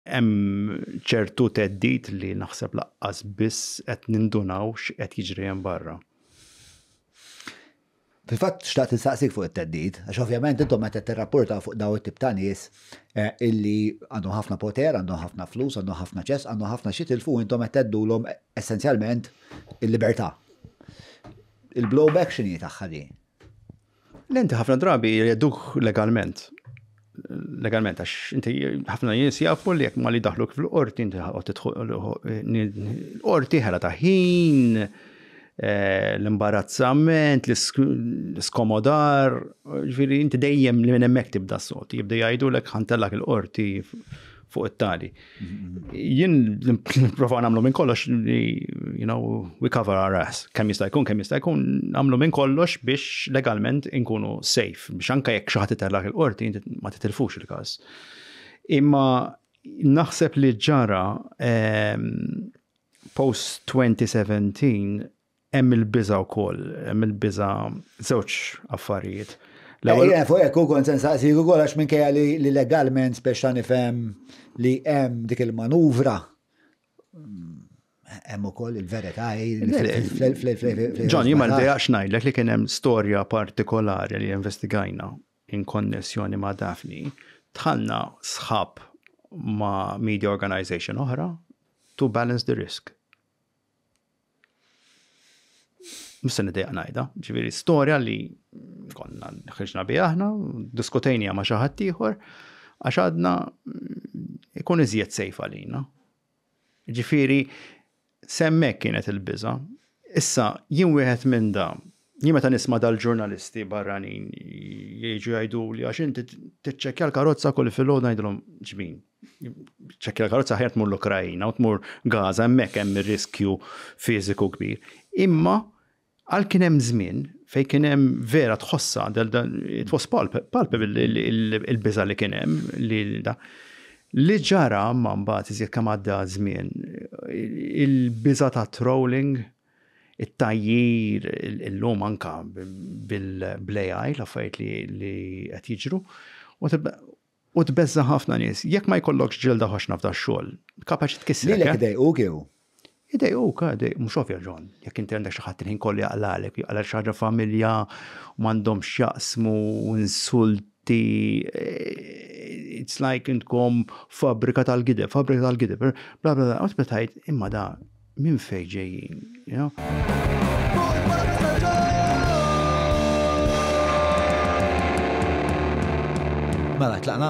Hemm ċertu theddid li naħseb laqqas biss qed nindunaw x'qed jiġri hemm barra. Fil-fatt xtaqt insaqsik fuq it-theddid, għax ovvjament intom qed tirrapporta fuq daw it-tip ta' nies eh, illi għandhom ħafna poter, għandhom ħafna flus, għandhom ħafna ċess, għandhom ħafna xi tilfu intom qed teddulhom essenzjalment il-libertà. Il-blowback x'inhi tagħha din? L-enti ħafna drabi jgħiduh legalment. Legalment, għax inti ħafna nies jafu li jekk ma li daħluk fil-qorti, inti l-qorti ħela ta' ħin, eh, l-imbarazzament, l-skomodar, ġviri inti dejjem li minn hemmhekk tibda s-soti, jibda jgħidulek ħantellak il-qorti fuq it-tali. Jien nipprova nagħmlu minn kollox li, you know, we cover our ass. Kemm jista' jkun, kemm jista' jkun nagħmlu minn kollox biex legalment inkunu safe, biex anke jekk xi ħadd itellak il-qorti ma titilfux il-każ. Imma naħseb li ġara ehm, post 2017 Hemm il-biża' wkoll, hemm il-biża' żewġ affarijiet. L-ewwel. Ejja, fuq hekk ukoll se nsaqsik ukoll għax minkejja li legalment speċta nifhem li hemm dik il-manuvra hemm ukoll il-verità Ġon, jien ma rdejaqx ngħidlek li kien hemm storja partikolari li investigajna in konnessjoni ma' Daphne. Tħanna sħab ma' media organization oħra to balance the risk. Mhux se nidejja ngħidha, ġifieri storja li konna ħriġna bi aħna, diskutejnija ma' xi ħadd ieħor, għax għadna ikun iżjed sejf għalina. Ġifieri semmek kienet il-biża. Issa jien wieħed minn da, jien meta nisma' dal-ġurnalisti barranin jiġu jgħidu li għax inti tiċċekkja l-karozza kull filgħodu ngħidilhom ġmin, ċekkja l-karozza ħajr tmur l-Ukrajina u tmur Gaza hemmhekk hemm ir-riskju fiżiku kbir. Imma għal kien hemm żmien fejn kien hemm vera tħossha it was palp il-biża li kien hemm li da. Li ġara ma mbagħad iżjed kemm għadda żmien il-biża ta' trolling it-tajjir illum anka bil-blejaj l-affarijiet li qed jiġru U tbeżża' ħafna nies. Jekk ma jkollokx ġilda ħoxna f'dax-xogħol, kapaċi tkissrek, eh? Lilek idejquk jew? Idejquk, eh, idejquk. Mhux ovvja, John. Jekk inti għandek xi ħadd il-ħin kollu jaqlagħlek, jaqlagħlek xi ħaġa familja u m'għandhomx x'jaqsmu u insulti, it's like intkom fabbrika tal-gideb, fabbrika tal-gideb, bla bla bla, u tibda tgħid, imma da, Minn fejn ġejjin, you know? Mela, tlaqna?